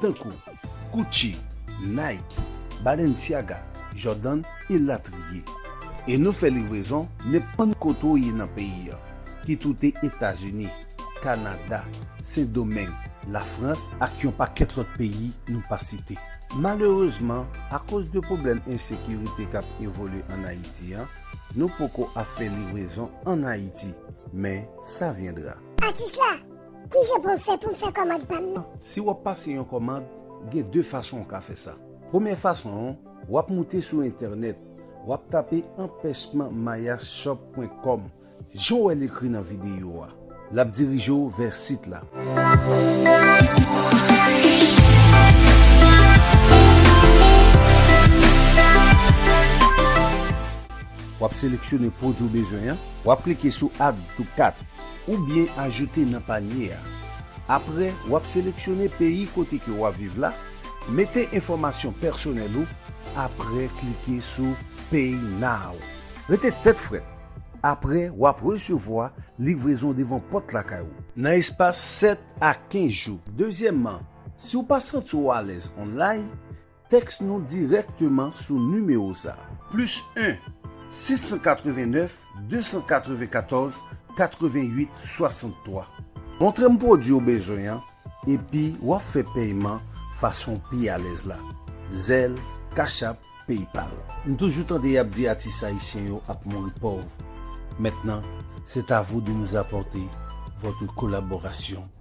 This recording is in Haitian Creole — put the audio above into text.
tankou Gucci, Nike, Balenciaga, Jordan elatriye. E nou fè livrezon nenpòt kote w ye nan peyi an, ki toute Etazini, Kanada, Sendomeng, Lafrans ak yon pakèt lòt peyi nou pa site. Malerezman, akoz de pwoblèm ensekirite k ap evolye ann Ayiti an, nou poko ap fè livrezon ann Ayiti, men sa vyendra. Atis la! Kijan pou m fè pou m fè kòmand pa m nan? Si w ap pase yon kòmand, gen 2 fason ou ka fè sa. Premyè fason an, w ap moute sou entènèt, w ap tape anpèchman mayashop pwen kòm, jan w wè l ekri nan videyo a. L ap dirije w vè sit la. W ap seleksyone pwodui w bezwen an. W ap klike sou Add to Cart. oubyen ajoute nan panye a. Apre, w ap seleksyone peyi kote ke w ap viv la, mete enfòmasyon pèsonèl ou, apre klike sou Pay Now. Rete tèt frèt, apre w ap resevwa livrezon devan pòt lakay ou, nan espas 7 a 15 jou. Dezyèmman, si w pa santi w alèz online, Tèks nou dirèkteman sou nimewo sa. Plis 1 689 294 88 63. Montre m pwodwi ou bezwen an epi w ap fè pèyman fason w pi alèz la, Zelle, Cash App, Paypal. M toujou tande yap di atis ayisyen yo ap mouri pòv, maintenant c'est à vous de nous apporter votre collaboration.